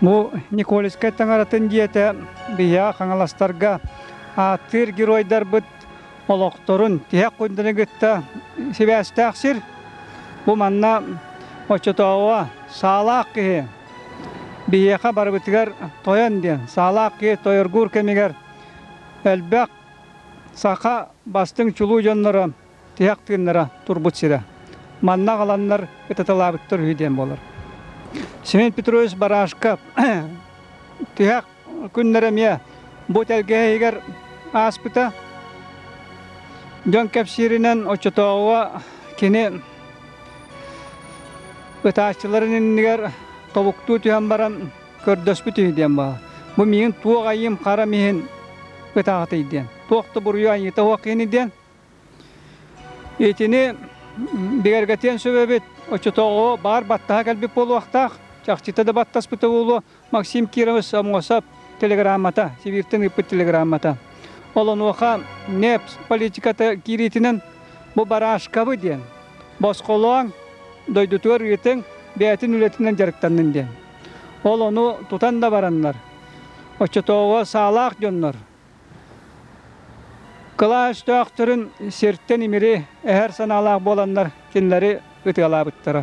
Бу Николискай таҥаратын дьиэтэ Биһиэхэ Хаҥаластарга ааттыыр геройдарбыт олохторун тиһэх күннэри кытта сибээстээх сир. Бу манна оччотооҕуга саалаах киһи биһиэхэ барыбытыгар тойон диэн саалаах киһи тойоргуур кэмигэр элбэх саха бастыҥ чулуу дьонноро Тыһах тыыннара турбут сирэ. Манна аҕаланнар ытаталаабыттар үһү диэн буолар. Семен Петрович Барашка тыһах күннэрэ эмиэ бу тэлгэһэһигэр ааспыта. Дьон кэпсииринэн оччотооҕуга кини ытааччыларын иннигэр тобуктуу түһэн баран көрдөспүт үһү диэн баҕа. Бу миигин туох айыым харам иһин ытаатый диэн. Туох да буруйу айыыта суох ини диэн Итини бигэргэтиэн сөбөбүт. Оччотооҕу баар баттаһа кэлбит буолуохтаах. Чахчыта да баттаспыта буолуо Максим Кирович Сомосов телеграммата, Сибиртэн ыыппыт телеграммата. Олонуоха НЕПС политиката киириитинэн бу барашкабы диэн босхолооҥ, дойдутугар ыытыҥ, бэйэтин үлэтинэн дьарыктаннын диэн. Ол ону тутан да бараннар, оччотооҕу саалаах дьоннор Кылаас өстөөхтөрүн сиртэн имири эһэр санаалаах буоланнар кинилэри ытыалаабыттара.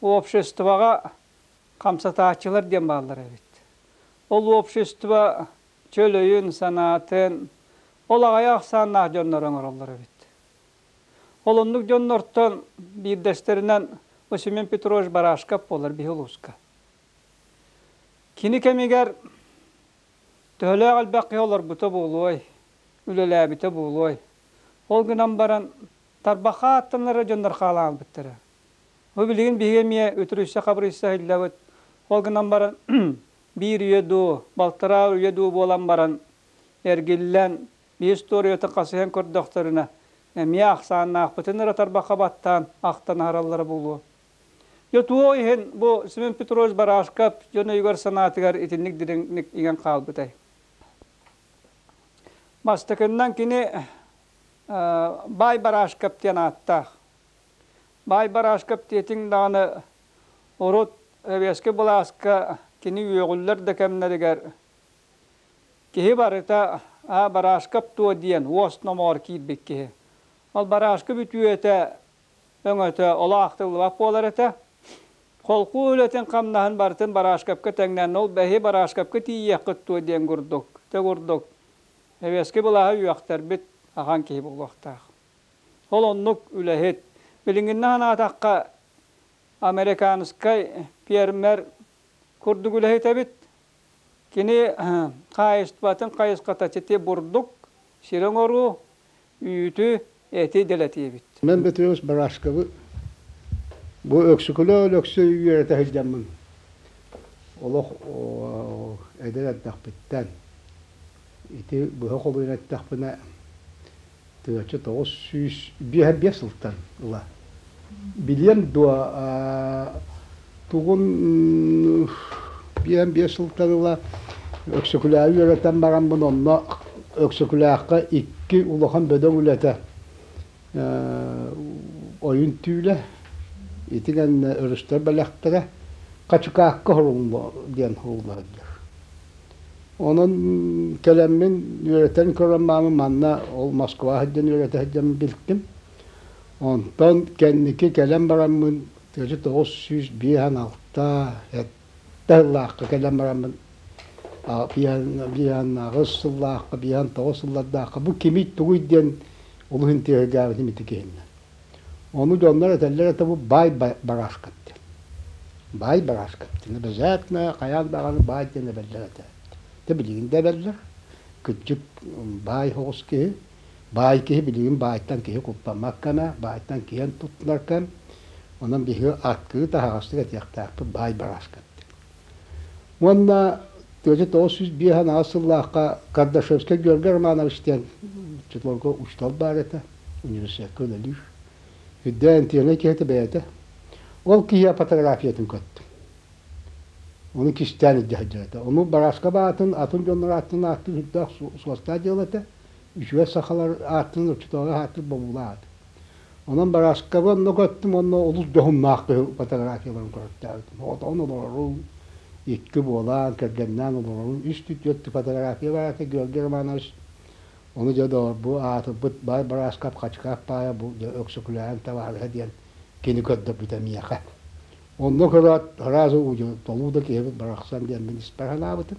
Обществоҕа хамсатааччылар диэн бааллар эбит. Ол общество чөл санаатын, ол аҕайа ахсааннаах дьоннору оҥороллор эбит. Ол оннук дьоннортон биирдэстэринэн Осимен Петрович Барашков буолар биһи улууска. Кини кэмигэр төһөлөөх элбэх киһи олорбута буолуой, үлэлээбитэ буолуой, ол гынан баран Тарбахха ааттанара дьоннор хаалан ааспыттара. Бу билигин биһиги эмиэ үтүрүйсэ-хабырыйса иһиллэбит. Ол гынан баран биир үйэ дуу, балтараа үйэ дуу буолан баран эргиллэн, биир туоруйата хасыһан көрдөхтөрүнэ эмиэ ахсааннаахпытын эрэ тарбахха баттаан ахтан аһараллара буолуо. Дьэ туох иһин бу Семен Петрович Барашков дьон өйүгэр-санаатыгар итинник дириҥник иҥэн хаалбытай? Бастакыннан кини Баай Барашков диэн ааттаах. Баай Барашков диэтиҥ даҕаны урут Эбиэски былааска кини үөҕүллэр да кэмнэригэр киһи барыта «Аа, Барашков дуо?» диэн уос номоҕор киирбит киһи. Ол Барашков үтүөтэ, өҥөтө олоохтуллубат буолар этэ. Холкуу үлэтин-хамнаһын барытын Барашковка тэҥнээннэ. Ол бэһи Барашковка тиийиэххит дуо диэн курдук, тэ курдук Нэбиэски былааһа үөхтэрбит ахан киһи буолуохтаах. Ол оннук үлэһит. Билиҥҥинэ санаатахха, американскай пиэрмэр курдук үлэһит эбит. Кини хаһаайыстыбатын хайысхата сити бурдук, сир оҥоруу, үүтү, эти дэлэтиэбит. Мин Петрович Барашковы бу Өксөкүлэ Өлөксөй үөрэтэ сылдьаммын олох эдэр эрдэхпиттэн ити быһа холуйан эттэхпинэ тыаччы тоҕус сүүс биэс сылтан ыла Билиэм дуо, тугун биэс сылтан ыла Өксөкүлээби үөрэтэн бараммын, онно Өксөкүлээххэ икки улахан бөдөҥ үлэтэ ойун түүлэ, итинэн өрүстэр бэлэхтэрэ Хачыкаакка хоруҥло диэн ыллардар. Онон кэлэммин үөрэтэн көрөн маамы манна ол Москва сылдьан үөрэтэ сылдьан билтим. Онтон кэнники кэлэн бараммын төрүт тоҕус сүүс биэс уон алта сэттэ сыллаахха кэлэн бараммын биһиэннээҕи сыллаахха биһиэхэ тоҕус сыллардаахха бу кимий тугуй диэн олус интиэһиргээбитим ити киһиннэн ону дьоннор этэллэр это бу баай барашкин диэн баай барашкин диэн обязательно хайаан даҕаны баай диэн эбэллэр этэ ити билигин да эбэллэр кырдьык баай соҕус киһи Баай киһи билигин баайтан киһи куппаммаккана, баайтан киэн туттунаркан, онон биһиги аркыы таһаҕастык этиэхтээхпит баай барааскын. Уонна тыача тоҕус сүүс биэс анаҕас сыллаахха Кардашевскай Георгий Романович диэн учууталга учуутал баар этэ, университекка үлэлиир. Үрдээн антиэҥэй киһитэ бэйэтэ. Ол киһи фотографиятын көттүм. Ону кистээн илдьэ сылдьар этэ. Ону Барааска баатын атын дьоннор ааттарын ааттыыр сүрдээх суостаах дьыала этэ. үчүгэй сахалар аатынан учууталлар аатынан бобуулаах аат. Онон Барааскабын онно көттүм онно олус дьоһуннаах фотографияларын көрөртөөбүтүм. Отон олорорум, икки буолаан, кэргэннээн олорорум, үс түтүөттүү фотография бар этэ Георгий Романович. Ону дьэ доҕор бу аатырбыт Бай Барааскап Хачыкаап Паайа бу дьэ Өксөкүлээн Таваалыһа диэн кини көрдөрбүтэ миэхэ. Онно көрөөт сразу удьу толуу да киһибит барахсан диэн мин испэр санаабытым.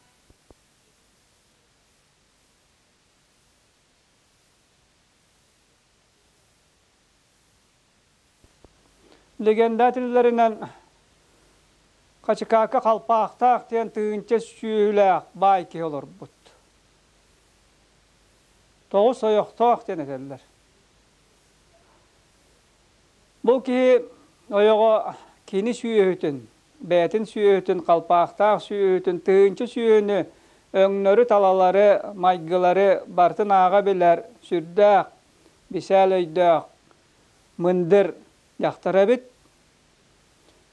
лэгендатэллэринэн Хачыкаакка Халпаахтаах диэн тыһыынча сүөһүлээх баай киһи олорбут. Тоҕус ойохтоох диэн этэллэр. Бу киһи ойоҕо кини сүөһүтүн, бэйэтин сүөһүтүн, халпаахтаах сүөһүтүн, тыһыынча сүөһүнү, өҥнөрү-талалары, майгылары барытын ааҕа билэр сүрдээх, бисээл өйдөөх, мындыр дьахтар эбит.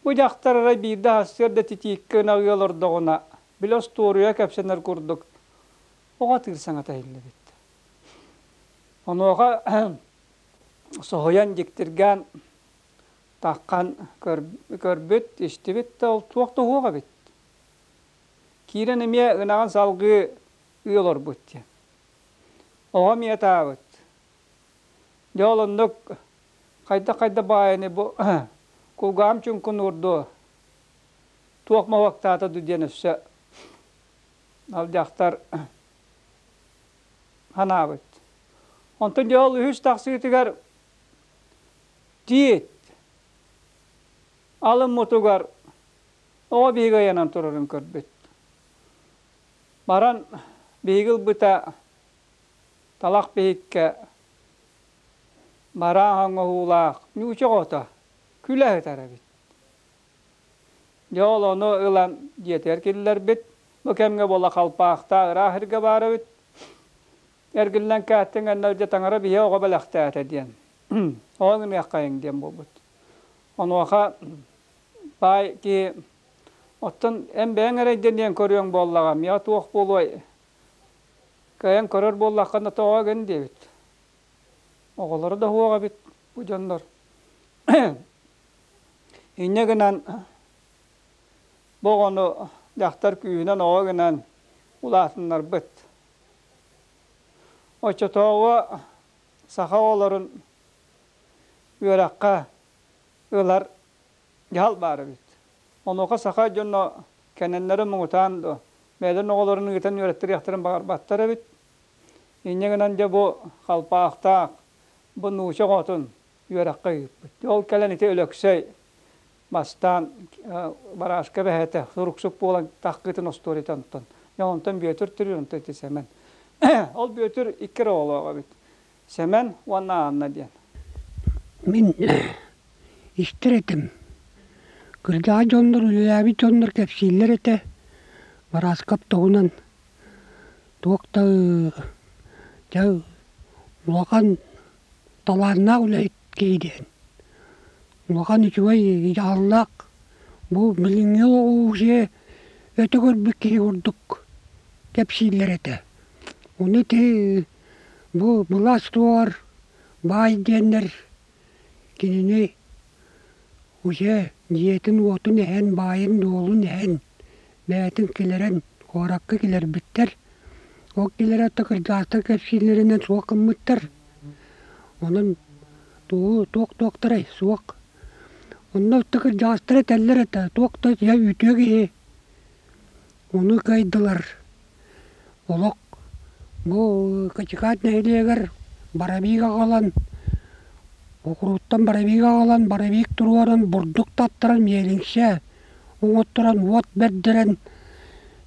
Бу дьахтар эрэ биир да сарсыарда да титииккэ ынах ыал ордоҕуна, били остуоруйа кэпсэнэр курдук, оҕо атыыр саҥата иһиллибит. Онуоха соһуйан дьиктиргээн таххан көрбүт истибит да туох да уһуох эбит киирэн эмиэ ынаҕын салгыы ыы олорбут диэн оҕом ийэтаабыт дьэ ол оннук хайда хайда баайыны бу кулгаҕым чуҥкун уурдуо туох мовоктаата ду диэн өссө алдьахтар санаабыт. Онтон дьэ ол үһүс тахсыытыгар тиит алыммытыгар оҕо биһиги айанан турарын көрбүт. Баран биһиги ылбыта талах биһиккэ бараан оҥоһуулаах ньууча оҕото күлэ сытар эбит. Дьэ ол ону ылан дьиэтигэр киллэрбит. Бу кэмҥэ буола халпаахтаах ыраах эргэ баарыбыт. Эргиллэн кээттиҥ эннэ дьэ таҥара биһиэхэ оҕо бэлэхтээтэ диэн. Ол гыныаххайыҥ диэн буолбут. Онуоха баай киһи оттон эн бэйэҥ эрэйдэниэн көрүөҥ буоллаҕа миэхэ туох буолуой? Кыайан көрөр буоллаххына тоҕо гын диэбит. Оҕолоро да уһуох эбит бу дьоннор Инньэ гынан бу оҕону дьахтар күүһүнэн оҕо гынан улаатыннарбыт. Оччотооҕу саха оҕолорун үөрэххэ ылар дьаһал баар эбит. Онуоха саха дьоно кэннилэри муҥутаан дуо бэйэлэрин оҕолорун ыытан үөрэттэриэхтэрин баҕарбаттар эбит. Инньэ гынан дьэ бу халпаахтаах, бу нууча оҕотун үөрэххэ ыыппыт. Ол кэлэн ити Өлөксөй бастаан барааска бэһээтэ суруксук буолан таххытын остуоруйата онтон. Дьэ онтон Бүөтүр түрү онтон ити Сэмэн. Ол Бүөтүр икки эрэ оҕолоох эбит. Сэмэн уонна Анна диэн. Мин истэр этим. Кырдьаҕас дьоннор, үлэлээбит дьоннор кэпсииллэр этэ. Барааскап туһунан туох да дьэ улахан Талааннаах үлэ диэн улахан үчүгэй дьаһаллаах. Бу билиҥҥи уже өтө көрбүт киһи курдук кэпсииллэр этэ. Ону ити бу былаас туһугар баай диэннэр кинини Уйэ, дьиэтин-уотун эһэн, баайын-дуолун эһэн, бэйэтин кэлэрэн куоракка кэлэрбиттэр. Ол кэлэрэ отто кырдьаастар кэпсииллэринэн суох гыммыттар. Онон туу туох-туохтарай суох. Онно отто кырдьаастара этэллэр этэ, туох да утуйа үүтүө киһи. Ону кыайдылар. Олох бу Катикаат нэһилиэгэр Барабига аҕалан окурууттан Барабига аҕалан Барабик туруоран бурдук таттаран миэлиҥсэ оҥотторон уот бэрдэрэн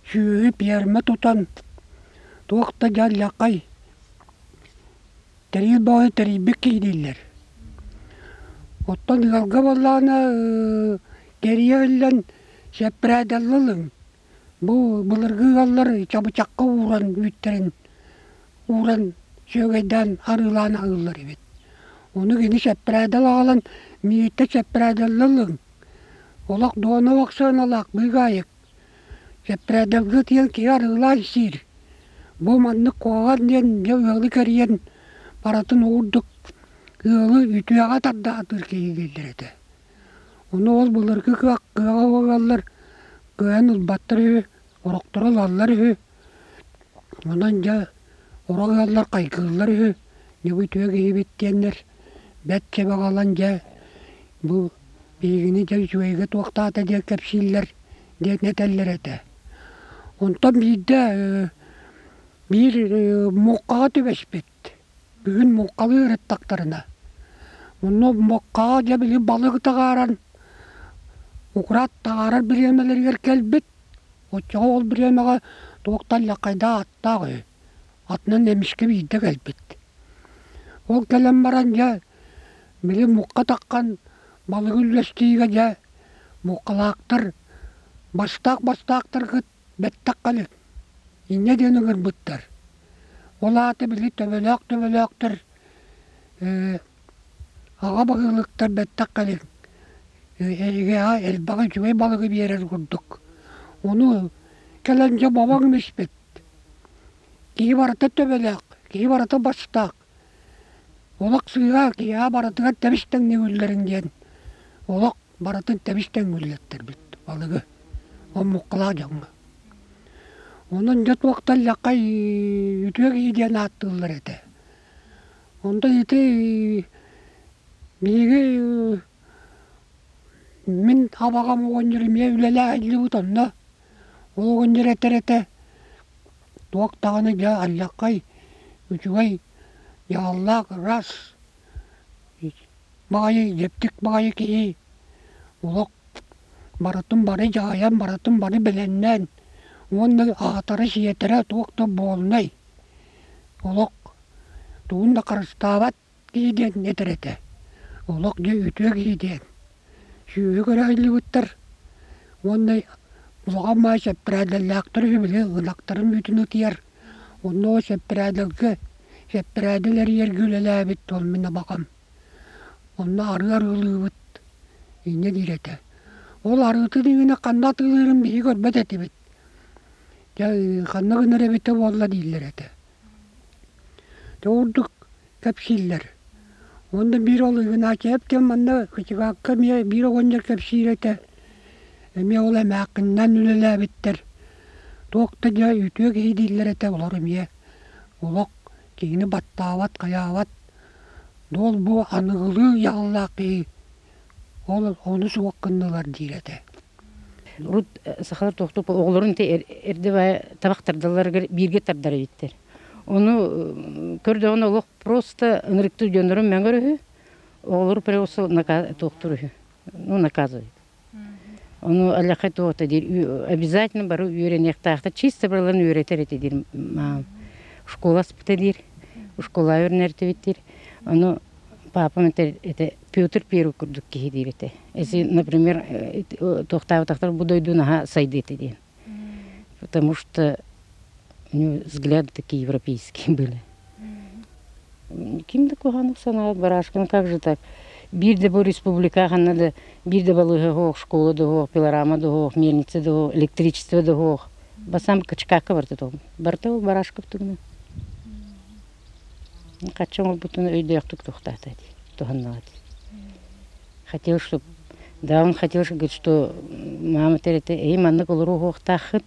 сүөһү пиэрмэ тутан туох да дьалльаххай Тэрил баҕайы тэрийбит киһи дииллэр. Оттон ыалга буоллаҕына кэрийэ ыллан сэппэрээтэллэлиҥ. Бу былыргы ыаллар чабычахха ууран үүттэрин ууран сүөгэйдээн арыылаан аһыыллар эбит. Ону кини сэппэрээтэл аҕалан миигиттэн сэппэрээтэллэлиҥ. Олох Дуона Ваксыаналаах быыгаайык Сэппэрээдэргэ диэн киһи арыылаах исиир. Бу маннык куоҕар диэн дьэ ыалы кэрийэн барытын уурдук ыалы үтүөҕэ тарда атыыр киһи дииллэр этэ. Ону ол былыргы кыаҕа уолаллар кыайан ылбаттар үһү, орохторо ылаллар үһү Онон дьэ урут ыаллар хайгыыллар үһү ньугу үтүө киһибит диэннэр бэрт чабаҕалан дьэ бу биһигини дьэ үчүгэйгэ туохтаата диэн кэпсииллэр диэн этэллэр этэ. Онтон биирдэ биир муҥхаҕа түбэспит Бүгүн муҥхалыы ырыттахтарына, мунна муҥхаҕа дьэ били балыгы таҕааран, украт таҕаарар бириэмэлэригэр кэлбит. Оччоҕо ол бириэмэҕэ туох да аллякайдаа ааттаах үһү, атынан эмискэ биирдэ кэлбит. Ол кэлэн баран дьэ били муҥха таххан балыгы үллэстиигэ дьэ муҥхалаахтар бастаах-бастаахтар Бэттэххинэ, инньэ диэн ыҥырбыттар. Ол аата били төбөлөөх-төбөлөөхтөр ээ аҕа баһыылыктар бэттэххинэ эйиэхэ элбэҕи үчүгэй балыгы биэрэр курдук. Ону кэлэн дьэ бобоҥ им испит. Киһи барыта төбөлөөх, киһи барыта бастаах. Олох сыыһа киэһэ барытыгар тэбис-тэҥнэҥиллэрин диэн олох барытын тэбис-тэҥниллэрбит балыгы омуккалаах дьоҥҥо. Онон дьэ туохтан лэххэ үтүө киһи диэн ааттыыллар этэ. Онто ити биһиги мин абаҕам оҕонньор эмиэ үлэлэһиллибит онно ол оҕонньор этэр этэ туох даҕаны дьэ аллакай үчүгэй дьааллаах рас баҕайы дьиптик баҕайы киһи олох барытын бары дьаһайан барытын бары билиннээн уонна аһатара-сиэтэрэ туох да буолунай олох тугун да харыстаабат дии диэн этэр этэ. Олох дьэ үтүө киһи диэн. Сүөһү көрөһүллүбүттэр уонна улахан маай сэппэрээдэллээхтэр үһү били ынахтарын мүтүн ытыйар. Онно ол сэппэрээдэлгэ сэппэрээдэл эрийэргэ үлэлээбит ол мин абакам. Онно арыы арыылыыбыт инньэ диир этэ. Ол арыытын иһинэ ханна атыылыырын биһиги көрбөт этибит. Дьэ ханна гынар эбитэ буолла дииллэр этэ. Дьэ ордук кэпсииллэр. Уонна биир ол Игнатьевтыын манна Кычугакка эмиэ биир оҕонньор кэпсиир этэ. Эмиэ ол эмээххининэн үлэлээбиттэр. Туох да дьэ үтүө киһи дииллэр этэ олор эмиэ. Олох киһини баттаабат, хайаабат. Дуол бу аныгылыы дьаһаллаах киһи Ол ону суох гыннылар диир этэ. Урут сахалар тохтопо оҕолорун те эрдебая табах тардаларыгар бииргэ тардара биттер. Ону көрдөҕүн олох просто ынырыктуу дьоннорун мәңгөр үһү, оҕолору просто тохтур үһү, ну наказывает. Ону аллахай туота диир обязательно бары үөрэниэхтаахта чисто барыларын үөрэтер эти диир школа аспыта диир, школа өрнертибиттир. Ону паапам это, это Петр Первый курдук киһи диир этэ. Если, например, туохтаабатахтар бу дойду наһаа сайды этэ диэн. Потому что у него взгляды такие европейские были. Ким да куһанов санаат барашканы как же так? Bir de bu республика ханна да bir de балыһы хоох школа да хоох пилорама да хоох мельница да хоох электричество да хоох басам качкака барта то барта ол барашков турна Хачча оҥорбутун өйдөөхтүк туохтаата дии, туһаннаҕа дии. Хотелось, чтоб даҕаҥ хотелось, говорит, что мама тэрэтэ, эйиэм маннык олору уһуохтааххыт,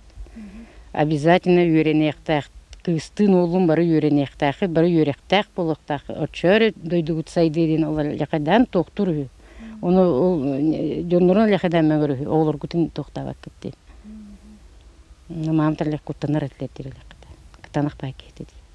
обязательно үөрэниэхтээх, кыыстыын уоллуун бары үөрэниэхтээххит, бары үөрэхтээх буолуохтааххыт, оччоору дойдугут сайдыа диэн олор лэхэдээн туохтуур үһү. Ону ол дьоннорун лэхэдээн мөҥөр үһү, оҕолоргутун туохтаабаккыт диэн. Мааматар лек куттанар этилэр диир лэхэтэ, кытанах баай киһитэ дии.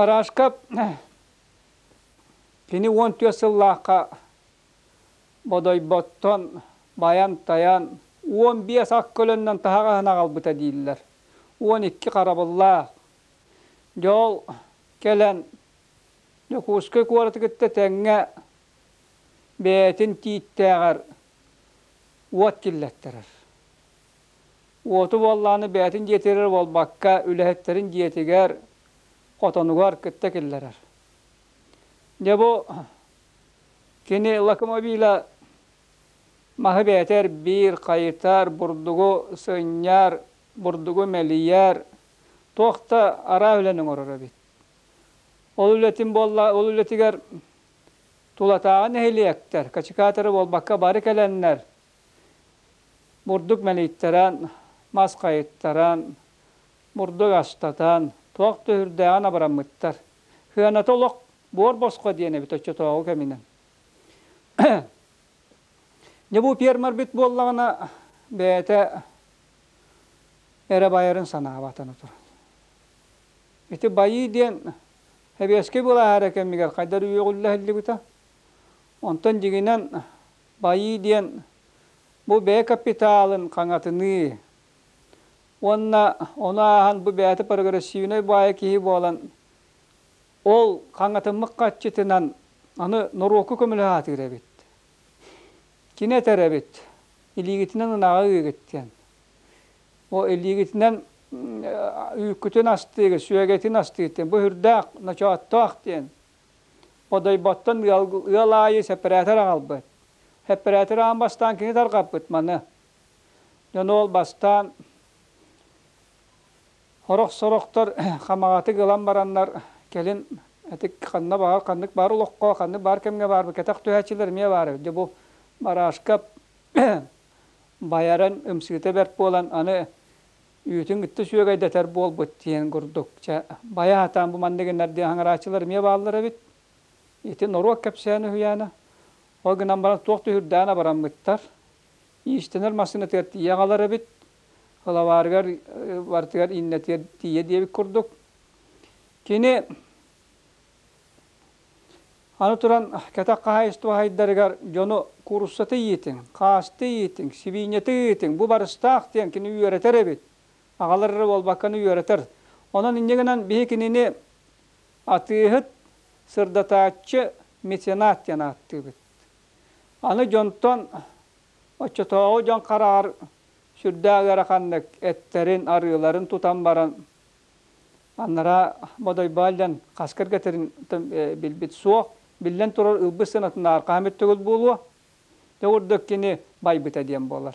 Парашка кини уон түөрт сыллаахха Бодойботтон байан-тайан уон биэс ак көлөннөн таһаҕаһын аҕалбыта дииллэр. Уон икки харабыллаах. Дьэ ол кэлэн Дьокуускай куораты кытта тэҥҥэ бэйэтин тииттээҕэр уот киллэттэрэр. Уоту буоллаҕына бэйэтин дьиэтигэр буолбакка үлэһиттэрин дьиэтигэр, хотонугар кытта киллэрэр. Дьэ бу Кини локомобиля маһы бээтэр биир хайытар, бурдугу сынньар, бурдугу мэлийэр, туох да араа үлэни оҥорор эбит. Ол үлэтин буолла, ол үлэтигэр тулатааҕы нэһилиэктэр качекаторы буолбакка бары кэлэннэр бурдук мэлийтэрэн, мас хайыттаран, бурдук астатан туох да үрдээҕин абыраммыттар. Сыаната олох Буор босхо диэн эбит оччотооҕу кэминэн. Дьэ бу пиэрмэрбит буоллаҕына бэйэтэ эрэ байарын санаабатана турар. Ити байыы диэн Хэбиэскэй былааһар кэмигэр хайдар үөҕүллэһиллибитэ. Онтон дьигинэн байыы диэн бу бэйэ капиталын хаҥатыныы уонна ону ааһан бу бэйэтэ прогрессивнай баайа киһи буолан Ол хаҥатыммыт хаччытынан аны норуокку көмөлөһө сатыыр эбит. Кини этэр эбит, илиигитинэн ынаҕы ыыгыт диэн. О илиигитинэн үүккүтүн астыыгыт, сүөгэтин астыыгыт диэн, бу үрдээх, ночооттоох диэн. Одойботтон ыал, ыал аайы сэппэрээтэр аҕалбыт. Сэппэрээтэр аан бастаан кини тарҕаппыт маны. Дьону ол бастаан Сорох-сорохтор хамаҕатык ылан бараннар, кэлин ити ханна баар, ханнык баар олоххо, ханнык баар кэмҥэ баарбыт кэтэх түһээччилэр эмиэ баара үһү. Дьэ бу бараашка байарын ымсыыта бэрт буолан аны үүтүн кытта сүөгэйдэтэр буолбут диэн курдук. Чэ байа сатаан бу маннык гыннардыы аһыҥарааччылар эмиэ бааллар эбит. Ити норуот кэпсээнэ үһүйээнэ. Ол гынан баран туох да үһүрдээн абыраммыттар. Иистэнэр массыынатыгар тиийэ аҕалар эбит. Халаваарыгар бартыгар иннэтиэр тиийэ диэбит курдук. Кини аны туран кэтэх хаһаайыстыба хайдарыгар дьону куруссаты иитиҥ, хаасты иитиҥ, сибиинньэти ыытыҥ, бу барыстаах диэн кини үөрэтэр эбит. Аҕалар эрэ буолбакканы үөрэтэр. Онон инньэ гынан биһи кинини атыыһыт, сырдатааччы, меценат диэн ааттыыбыт. Аны дьонтон оччотооҕу дьон хараҕар сүрдээх ыараханнык эттэрин, арыыларын тутан баран анараа Бодойбаалдьан хас кэргэтин билбит суох. Биллэн турар, ылбыт сыанатынааҕар хаһан бүттүгүт буолуо? Дьэ, ордук кини байбыта диэн буолар.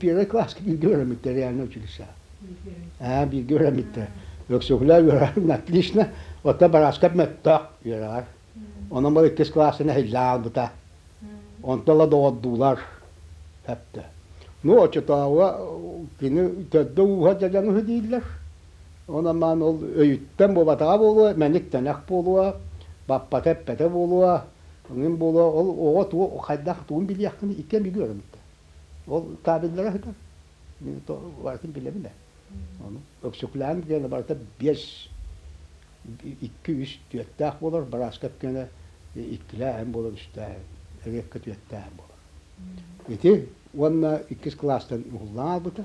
Первый класс бииргэ үөрэммиттэр реальнай училищеҕа. Ээ бииргэ үөрэммиттэр. Өксөкүлээн үөрэҕин отлично, оттон Барааскап мөлтөх үөрэҕэр. Онон бары иккис классын эһиллэн аҕалбыта. Онтон ыла доҕордуулар сөптө. Ну оччотооҕуга кини төрдө ууһа дьадаҥыһы дииллэр. Онон-маан ол өйүттэн буолбатаҕа буолуо, мэник тэнэх буолуо, баппата-эппэтэ буолуо, ҥин буолуо, ол оҕо туох, хайдах тугун билиэххин ити эмиги өрөмүттэ. Ол кабеллара сытар. Мин барытын билэбин ээ. Ону Өксүкүлээн диэни барыта биэс, икки үс түөртээх буолар, бырааска өккүөнэ иккилээһин буолар, үстээһин, эриэккэ түөртээһин буолар. Ити уонна иккис кылаастан уһуллан аалбыта.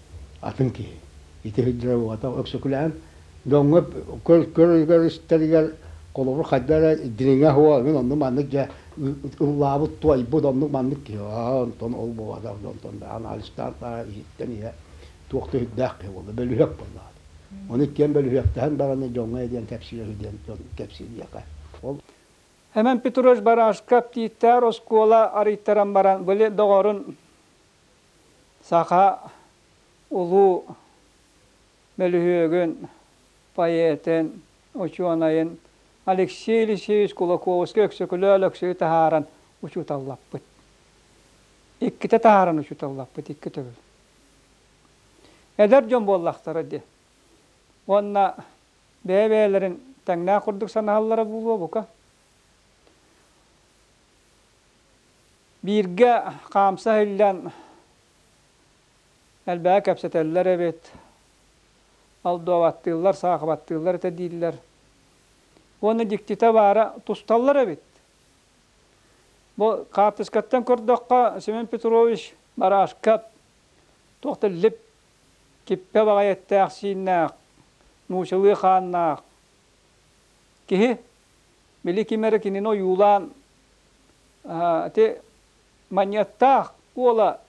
атын киһи. Ити сылдьара уота Өксөкүлээн дьоҥҥо көрөр-истэригэр холобур хайда эрэ дириҥэ суох мин оннук маннык дьэ ыллаабыт туойбут оннук маннык киһи онтон ол буолбата онтон анализтаан иһиттэн ийэ туох да сүрдээх киһи буолла бөлүһүөк буоллаҕа ону иккиэн бөлүһүөктэһэн бараны дьоҥҥо диэн кэпсиир үһү диэн дьон кэпсииллиэхэ ол Эмэн Петрович Барашка Птиттээр оскуола арыйтаран баран били доҕорун Саха улуу мөлүһүөгүн, поэтын, учуонайын Алексей Алексеевич Кулаковский-Өксөкүлэ Өлөксөйү таһааран учууталлаппыт. Иккитэ таһааран учууталлаппыт, икки төгүл. Эдэр дьон буоллахтара дии. Уонна бэйэ-бэйэлэрин тэҥнээх курдук санаһаллара буолуо бука. Бииргэ хаамса иһиллэн элбэҕи кэпсэтэллэр эбит, алдуобаттыыллар, саахыбаттыыллар этэ дииллэр. Уонна дьиктитэ баара тусталлар эбит. Бу хаартыскаттан көрдөххө Семен Петрович барашка туох да лип киппэ баҕайы эттээх-сииннээх, нуучалыы хааннаах киһи Били ким эрэ кинини ойуулаан ити манньыаттаах уола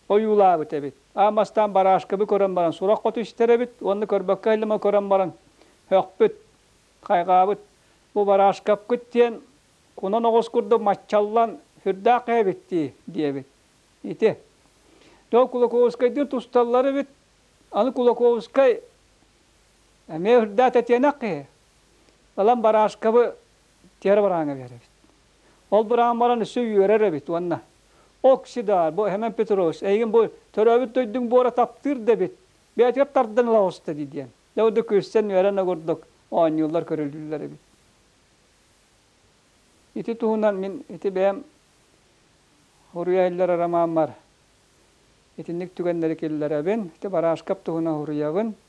ойуулаабыт эбит. Аамастаан бараашкабы көрөн баран сурах хоту истэр эбит уонна көрбөккө аһыллыма көрөн баран һөхпүт, хайҕаабыт. Бу бараашкапкыт диэн кунан оҕус курдук маччаллан сүрдээх эбит дии диэбит. Ити. То Кулаковскайдыын тусталлар эбит. Аны Кулаковскай эмиэ үрдээх тэтиэнэх киһи. Ылан барашкабы тиэрэ бараанга биэрэбит. Ол быраан баран өссө үөрэр эбит уонна Оксидар, бу Хемен Петрович, эйигин бу төрөөбүт дойдуҥ буора таптыыр да эбит, бэйэтигэр тардан ылаҕыста дии диэн. Дьэ бу да күрсэн үөрэн огурдук оонньууллар көрүлүүллэр эбит. Ити туһунан мин ити бэйэм уруйайлар ромаммар итинник түгэннэри киллэрэбин. Ити барашкап туһунан уруйабын.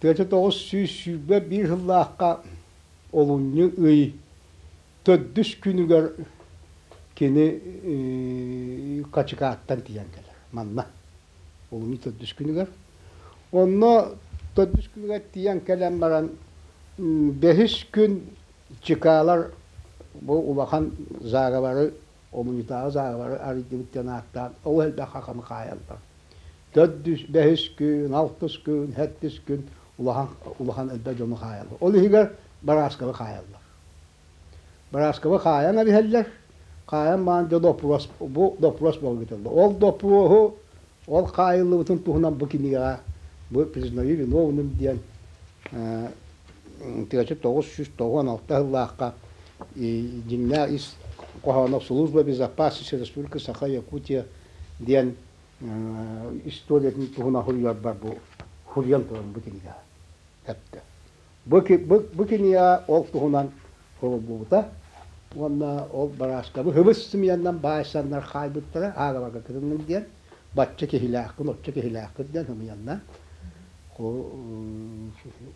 Тыата тоҕус сүүс сүүрбэ биир сыллаахха олунньу ый төрдүс күнүгэр кини Хачыкааттан тиийэн кэлэр манна. Олунньу төрдүс күнүгэр. Онно төрдүс күнүгэр тиийэн кэлэн баран бэһис күн Чыкаалар бу улахан зааговары Омуньутааҕы зааҕалары арыйдыбыт диэн ааттаан ол элбэх хаханы хаайаллар. Төрдүс, бэһис күн, алтыс күн, сэттис күн улахан, улахан элбэх дьону хаайаллар. Ол иһигэр барааскабы хаайаллар. Барааскабы хаайан эбиһэллэр. Хаайан маан дьэ доппуруос, бу доппуруос буолга кэтэллэр. Ол доппуруоһу ол хаайыллыбытын туһунан бу кинигэҕэ бу «Признави виновным» диэн тыача тоҕус сүүс тоҕуон алта сыллаахха дьиҥнээх ис хоһооно «Служба безопасности республики Саха Якутия» диэн историятын туһунан суруйарбар бу суруйан туран бу кинигэ эттэ. Бу, бу, бу кинигэ ол туһунан суруллубута уонна ол барааскабы хыбыс сымыйаннан баайсаннар хаайбыттара ааҕарга кытынным диэн бачча киһилээхпин, оччо киһилээхпин диэн сымыйанна.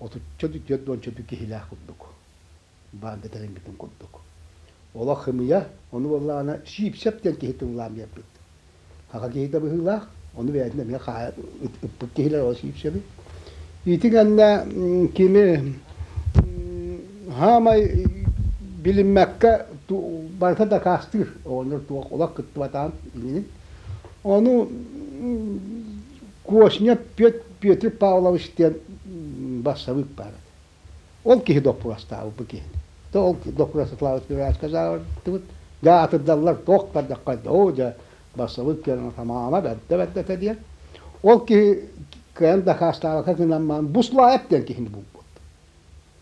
Отучча түөрт уонча киһилээх курдук. Баанга тэлиммитин курдук. Олох хымыйа, ону буоллаҕына Сиипсэп диэн киһи тыллаан биэрбит. Саха киһитэ быһыылаах, ону бэйэтин эмиэ хаайа ыппыт киһилэр ол Сиипсэби. Ити кэннэ кини саамай билиммэккэ барыта дакаастыыр оҕонньор туох олох кыттыбатаҕын иннин Ону Косня Пет, Петр Павлович диэн бассабыык баар этэ. Ол киһи доппуруостаабыт бу киһини. Да ол доппуруос Славик сказаатыбыт. Дьэ атырдаллар, туох бардахха, оо дьэ бассабыык кэлэн тамаама бэрдэ бэрдэ этэ диэн. Ол киһи кыайан дакаастаабакка гынан маан Буслаев диэн киһини булбут.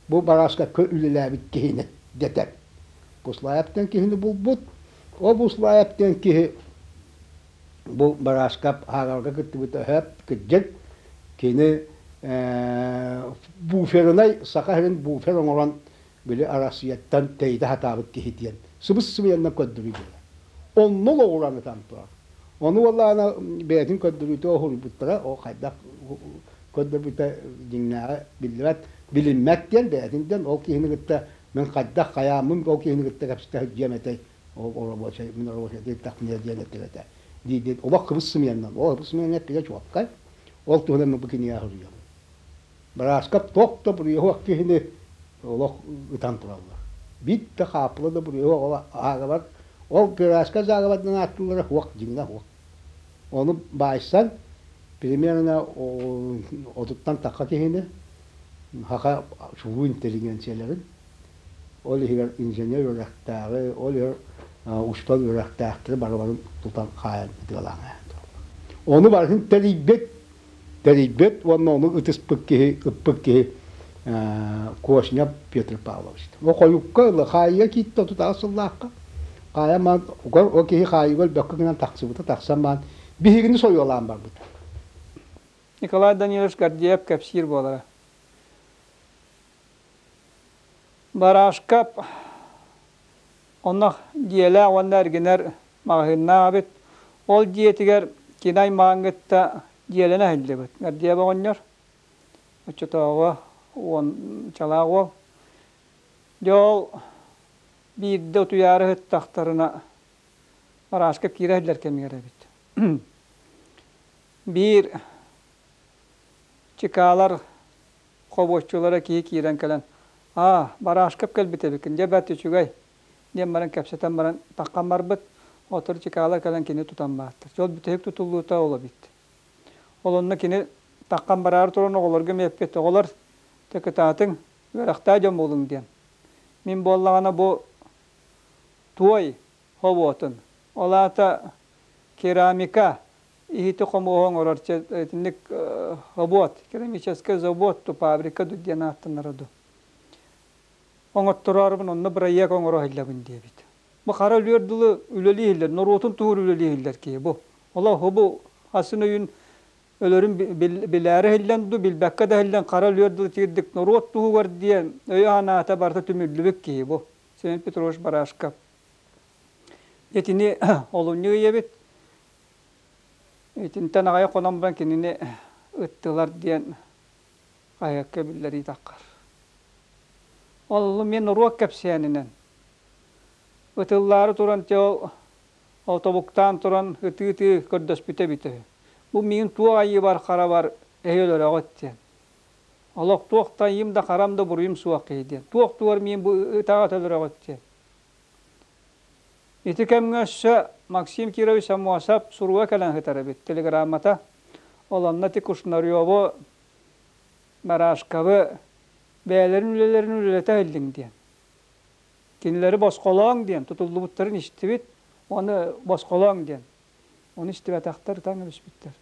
Бу барааска үлэлээбит киһини дэтэр. Буслаев диэн киһини булбут. Ол Буслаев диэн киһи бу барааскап ааҕарга кыттыбыта өһөөп кырдьык кини буферынай саха сирин буфер оҥорон били Арассыыйаттан тэйитэ сатаабыт киһи диэн сыбыс-сыбыйаннык көрдөрүү буолар. Онно олоҕуран ытан турар. Ону уоллаана бэйэтин көрдөрүүтэ уһуруйбуттара, ол хайдах көрдөрбүтэ дьиҥнээҕэ биллибэт, билиммэт диэн бэйэтин диэн ол киһини кытта Мин хайдах хайааммын ол киһини кытта кэпсэтэ сылдьыам этэй, ол оробуочай, мин оробуочайдыы тахыныа диэн эттэбэтэ. диир олох кыбыс сымыйаннан, ол кыбыс сымыйаннан эппитэ чуолкай, ол туһунан бу кинигэ суруйабын. Бырааскап туох да буруйуһуох киһини олох ытан тураллар. Биир хааппыла да буруйуһуох ааҕабар, ол бырааска зааҕабардан ааттыыллара суох, дьиҥҥэ суох. Ону баайсан, примерно отуттан тахха киһини, Саха субу интеллигенцияларын, ол иһигэр инженер үөрэхтээҕи, ол иһигэр устан үөрэхтээхтэри барыбарын тутан хаайан ытыалаан Ону барытын тэрийбит, тэрийбит уонна ону ытыспыт киһи, ыппыт киһи Кошнев Петр Павлович. О хойукка ылы хаайыга киитте тутаҕа сыллаахха. Хаайа маан о киһи хаайыга өлбөккө гынан тахсыбыта тахсан маан биһигини сойуолаан барбыта. Николай Данилович Гордеев кэпсиир буолара. Барашка онно дьиэлээх уонна эргинэр маҕаһыыннаах эбит. Ол дьиэтигэр киин аймаҕын кытта дьиэлэнэ сылдьыбыт. Гордеев оҕонньор, оччотооҕу уон чалаах уол. Дьэ ол биирдэ утуйаары сыттахтарына Барашка киирэ сылдьар кэмигэр эбит. Биир Чыкаалар хобуоччулара киһи киирэн кэлэн аа Барашков кэлбит эбиккин дьэ бэрт үчүгэй диэн баран кэпсэтэн баран таххан барбыт отор Чыкаала кэлэн кини тутан баартар дьэ ол бүтэһик тутуллуута ол эбит ол онно кини таххан бараары туран оҕолорго миэппит оҕолор дьэ кытаатыҥ үөрэхтээ дьон буолуҥ диэн мин буоллаҕына бу туой хобуотун, ол аата керамика, иһити-хомуоһу оҥорор итинник хобуот, керамическай завод, фабрика дуу диэн ааттанара дуу. Оҥоттороорбун онно бырайыак оҥоро сылдьабын диэбит. Бу хара өлүөр дылы үлэлии иһиллэр, норуотун туһур үлэлии иһиллэр киһи бу. Ола хобу асан өйүн өлөрүн билээри иһиллэн дуу, билбэккэ да иһиллэн хара өлүөр дылы тиэрдик норуот туһугар диэн өй анаата барыта түмүллүбүт киһи бу. Семен Петрович Барашков Итини олунньу ыйыбыт. Итинтэн аҕай хонон баран кинини ыттылар диэн хаһыакка биллэриитаххар. Ол мин уруок кэпсээнинэн. Ытыллаары туран те ол тобуктаан туран ытыы-ытыы көрдөспүтэ эбитэ үһү. Бу миигин туох айыыбар харабар эһи өлөрөҕүт диэн. Олох туох да айыым да харам да буруйум суох киһи диэн. Туох-тугар миин бу ытаҕыт өлөрөҕүт диэн. Ити кэмҥэ өссө Максим Кирович Амосов суруга кэлэн сытар эбит телеграммата. Олонноти Кушнареву, Марашковы бэйэлэрин үлэлэрин үлэлэтэ иһиллиҥ диэн. Кинилэри босхолооҥ диэн, тутуллубуттарын истибит. Оны босхолооҥ диэн. Оны истибэтэхтэр таҥ эбиспиттэр.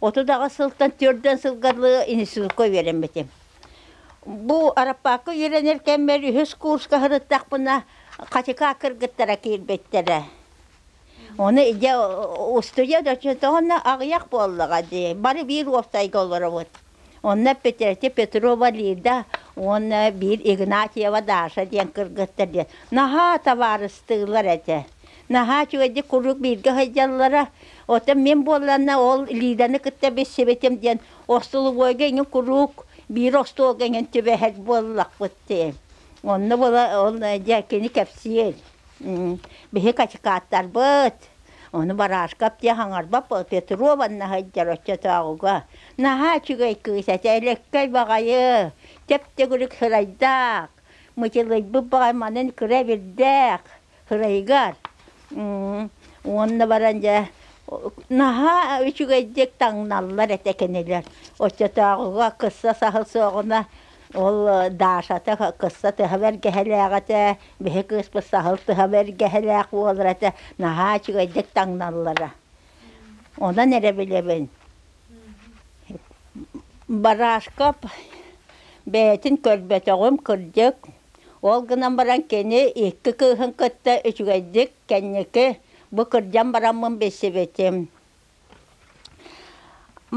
Отут аҕыс сылтан төрдөн сылга дылы институтка үөрэммитим. Бу Араппаакка үөрэнэр кэммэр үһүс курска сырыттахпына Хатыка кыргыттара киирбиттэрэ. Ону дьэ устуйа да тоҕо аҕыйах буоллаҕа дии, бары биир уоптайга олоробут. Онно Петрете Петрова Лида уонна биир Игнатьева Даша диэн кыргыттар диэн наһаа табаарыстыылар этэ. Наһаа үчүгэйдик куруук бииргэ сылдьаллара. Оттон мин буолланна ол Лиданы кытта билсибитим диэн остолобуойга иҥин куруук биир остуолга иҥин түбэһэр буоллахпыт дии. Онно була ол дьэ кини кэпсиир. Биһи качекааттарбыт Ону Барашков диэн хаҥарбат Петрова сылдьар оччотооҕуга наһаа үчүгэй кыыс этэ Өлөккөй баҕайы чэп-чэгирик сырайдаах мычылыйбыт баҕай манын кыра эбирдээх сырайыгар уонна баран дьэ наһаа үчүгэйдик таҥналлар этэ кинилэр оччотооҕуга кысса саһыл суоҕуна Ол Дашата кысса тыһа бэргэһэлээх этэ, биһи кыыспыт саһыл тыһа бэргэһэлээх буолар этэ, наһаа үчүгэйдик таҥналлара. Онон эрэ билэбин Барашкап бэйэтин көрбөтөҕүм, кырдьык, ол гынан баран кини икки кыыһын кытта үчүгэйдик кэнники бу кырдьан бараммын билсибитим.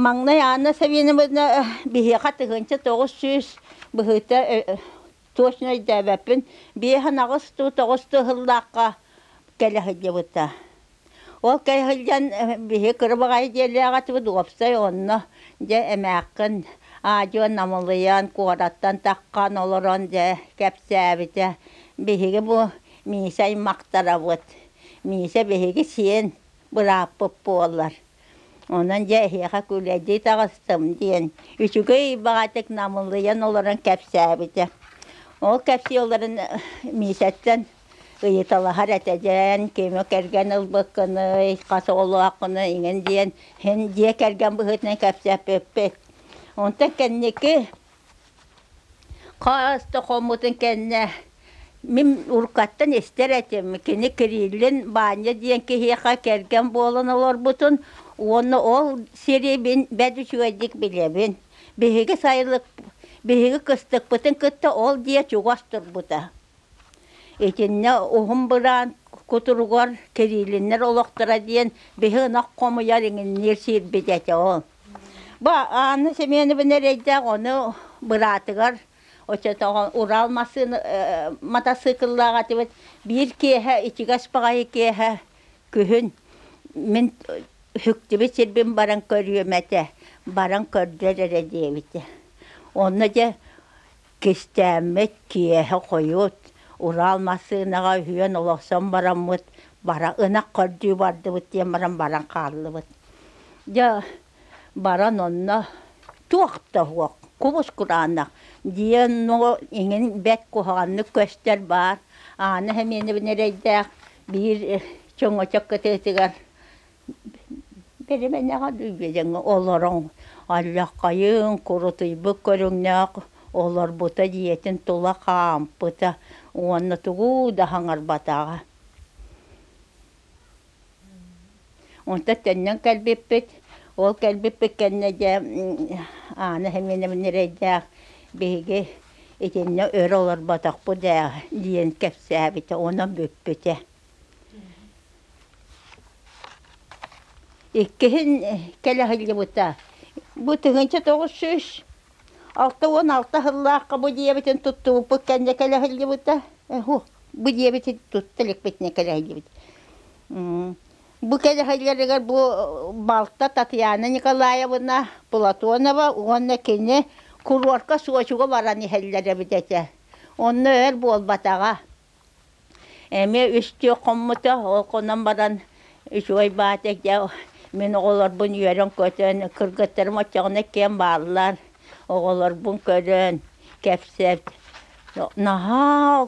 Маҥнай Анна Саввиновна биһиэхэ тыһыынча тоҕус сүүс быһыыта точно өйдөөбөппүн биэс анаҕыс туу тоҕус туу сыллаахха кэлэ сылдьыбыта. Ол кэлэ сылдьан биһи кырабаҕай диэлээҕитибит уопсай онно дьэ эмээххин аадьыйа намылыйан куораттан таххан олорон дьэ кэпсээбитэ биһиги бу Миисэ аймахтарабыт Миисэ биһиги сиэн бырааппыт буоллар. Онон дьэ эһиэхэ күлэдии таҕыстым диэн үчүгэй баҕатык намылыйан олорон кэпсээбитэ. Ол кэпсиэлэрин Миисэттэн ыйыталаһар этэ диэн кимэ кэргэн ылбыккыный, хас оҕолооххунуй иҥин диэн син дьиэ кэргэн быһыытынан кэпсээппиппит. Онтон кэнники Хаас да хоммутун кэннэ мин уруккаттан истэр этим кини Кириллин Баанньа диэн киһиэхэ кэргэн буолан олорбутун уонна ол сири мин бэрт үчүгэйдик билэбин. Биһиги сайылык биһиги кыстыкпытын кытта ол дьиэ чугас турбута. Итиннэ уһун быраан кутуругар Кириллиннэр олохторо диэн биһи ынах хомуйар иҥинниир сирбит этэ ол Бу Анна Семеновна эрэйдээх ону быраатыгар оччотооҕу Урал массыына э, мотоцикллаах этибит биир киэһэ ичигэс баҕайы киэһэ күһүн мин үһүктүбүт сирбин баран көрүөм этэ баран көрдөр эрэ диэбитэ онно дьэ Кистээммит, киэһэ-хойут, Урал массыынаҕа үһүөн олохсон бараммыт, бара ынах көрдүү бардыбыт диэн баран баран хааллыбыт. Дьэ баран онно туох да суох кубус кураанах диэн но иҥин бэрт куһаҕаннык көстөр баар Аана Хэмиэнэбин эрэйдээх биир чөҥөчөк кытыытыгар Бэримэнэҕэ дьиҥҥэ олороҥ, алльаххайыҥ, курутуйбут көрүҥнээх олорбута дьиэтин тула хаампыта уонна тугу да хаҥарбатаҕа. Онтон төннөн кэлбиппит, ол кэлбиппит кэннэ дьэ Аана Хеминовна эрэйдээх биһиги итиннэ өр олорботохпут ээ диэн кэпсээбитэ, онон бүппүтэ. Иккиһин кэлэ сылдьыбыта. Бу тыһыынча тоҕус сүүс алта уон алта сыллаахха бу дьиэбитин туттубуппут кэннэ кэлэ сылдьыбыта. Эһу, бу дьиэбитин тутта иликпитинэ кэлэ сылдьыбыт. Бу кэлэ сылдьарыгар бу балта Татьяна Николаевна Платонова уонна кини курорка Сочига баран иһэллэр эбит этэ. Онно өр буолбатаҕа. эмиэ үстүү хоммута ол хонон баран үчүгэй баата дьэ мин оҕолорбун үөрэн-көтөн кыргыттарым оччоҕуна киэн бааллар оҕолорбун көрөн кэпсэт наһаа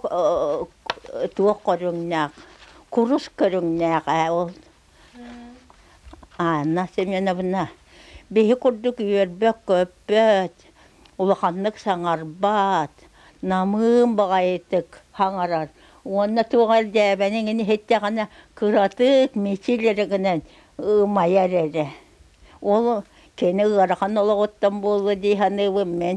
туох көрүҥнээх курус көрүҥнээх ээ ол Анна Семеновна биһи курдук үөрбөт-көппөт, улаханнык саҥарбат, намыын баҕайытык хаҥарар уонна туох эрэ дьээбэниҥ ини иһиттэҕинэ кыратык мичил эрэ гынан ымайар эрэ. Ол кини ыарахан олоҕуттан буолуо дии саныыбын мин.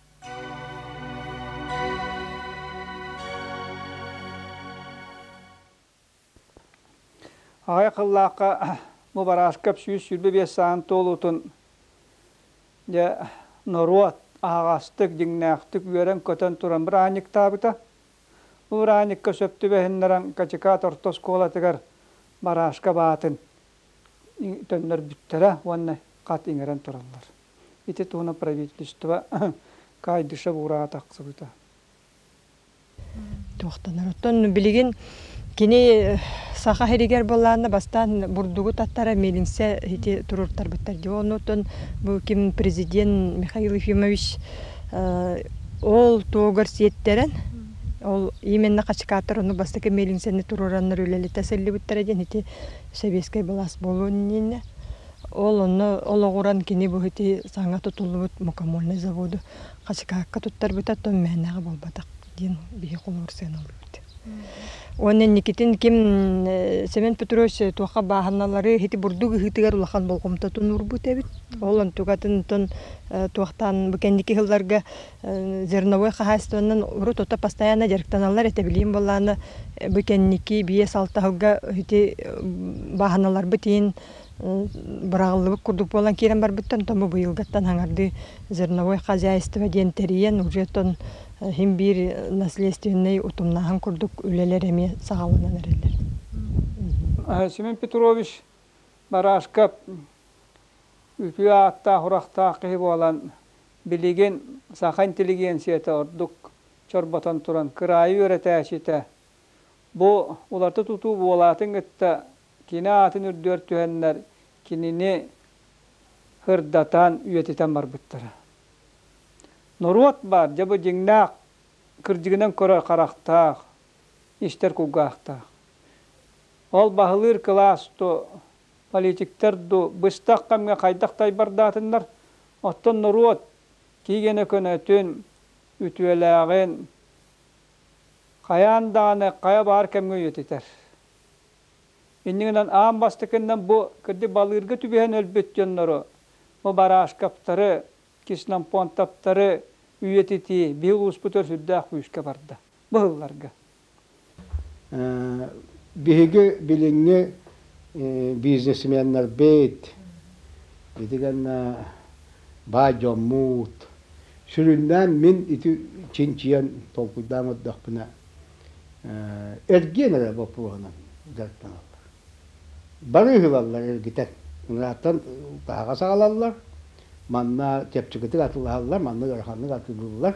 Аҕай хыллаахха бу барааскап сүүс сүүрбэ биэс саан туолуутун дьэ норуот аһаҕастык, дьиҥнээхтик үөрэн-көтөн туран быраанньыктаабыта. Бу быраанньыкка сөп түбэһиннэрэн Качыкаат орто оскуолатыгар барааска баатын төннөрбүттэрэ уонна хат иҥэрэн тураллар. Ити туһунан правительство Кайдышев ураа тахсыбыта. Туохтанар. Оттон билигин кини саха сиригэр былаанна бастаан бурдугу таттара милинсе ити туруортарбыттар дии. Оннуттан бу ким президент Михаил Ефимович ол туогар сиэттерэн ол именно качкааттар ону бастакы милинсени туруораннар үлэлитэ сыллыбыттара диэн ити сэбиэскэй былаас болуон иннэ Ол онно олоҕуран кини бу ити саҥа тутуллубут мукомольный заводу хачыкаакка туттарбыта, оттон мээнэҕэ буолбатах диэн биһи холуорсуйан ылбыт. Уонна инникитин ким Семен Петрович туохха бааһыналары ити бурдук ыһыытыгар улахан болҕомтотун уурбут эбит. Ол онтукатынтон туохтаан бу кэнники сылларга зерновой хаһаайыстыбанан урут ото постоянно дьарыктаналлар этэ билигин буоллаана бу кэнники биэс-алта сылга ити бааһыналарбыт иһин быраҕыллыбыт курдук буолан киирэн барбыттан томо быйылгыттан хаҥардыы зерновой хозяйство диэн тэрийэн уже оттон син биир наследственнай утумнааһын курдук үлэлэр эмиэ саҕаланан эрэллэр Семен Петрович барааска үтүө ааттаах-урахтаах киһи буолан билигин саха интеллигенцията ордук чорботон туран кыраайы үөрэтээччитэ бу уларыта тутуу буолаатын кытта Кини аатын үрдүгэр түһэннэр, кинини һырдатан, үйэтитэн барбыттара. Норуот баар, дьэ, бу дьиҥнээх кырдьыгынан көрөр харахтаах, истэр кулгаахтаах. Ол баһылыыр кылаас дуу, политиктар дуу быстах кэмҥэ хайдах тайбардаатыннар, оттон норуот тиийгэнэ көнөтүн, үтүөлээҕин хайаан даҕаны хайа баар кэмҥэ үйэтитэр. Иннигинэн аан бастакыннан бу кырдьык балыырга түбэһэн өлбүт дьоннору, бу Барашковтары, Киснампонтовтары үйэтитии биыл ууспут өр сүрдээх күүскэ барда бу сылларга. Биһиги билиҥҥи бизнесменнэрбит итигэннэ баай дьоммут сүрүннээн мин ити чинчийэн толкуйдаан көрдөхпүнэ эргиэн эрэ боппуруоһунан дьарыктаналлар. Барыыһылаллар эргитэн, ырааттан таһаҕа саҕалаллар, манна чэпчэкитик атылаһаллар, манна ыараханнык атыылыыллар,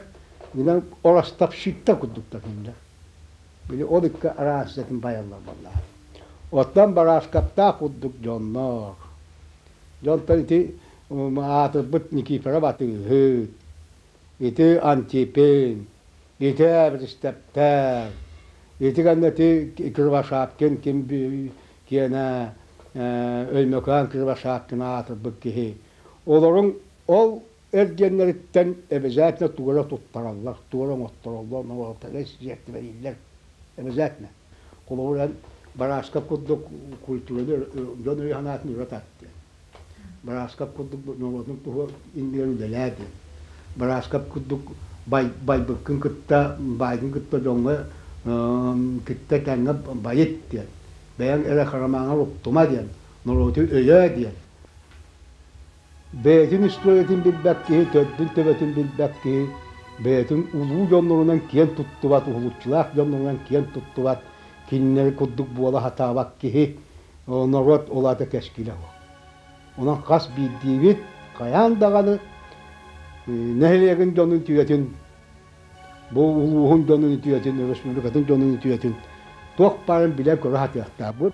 гынан оростопщиттар курдук татыыллар. Били ол икки араас идэтин байаллар буоллаҕа. Оттон барааскаптаах курдук дьоннор. Дьонтон ити аатырбыт Никифоров атыыһыт, ити Антипин, Ити Эбристэптээн, ити кэннэ ити Кривошапкин ким киэнэ Өймөкөөн Кривошапкина аатырбыт киһи. Олорун ол эргиэннэриттэн обязательно туора туттараллар, туора оҥоттороллор, олортон сиэртибэлииллэр обязательно. Холобуран, Барааскап курдук культураны дьон өйө-санаатын ыра тартыа. Бырааскап курдук норуотум туһу иннигэр үлэлээбин. Бырааскап курдук бай, байбыккын кытта, баайгын кытта дьоҥҥо кытта тэҥҥэ байыт диэн, бэйэҥ эрэ харамаҕар уктума диэн, норуоту өйөө диэн. Бэйэтин устуйатын билбэт киһи, төрдүн төбөтүн билбэт киһи, бэйэтин улуу дьоннорунан киэн туттубат, уһулуччулаах дьоннорунан киэн туттубат, кинилэри курдук буола сатаабат киһи, норуот ол аата кэскилэ уһу. Онон хас биирдиибит хайаан даҕаны нэһилиэгин дьонун үтүөтүн, бу улууһун дьонун үтүөтүн, өрөспүүбүлүкэтин дьонун үтүөтүн туох баарын билэ-көрө сатыахтаахпыт.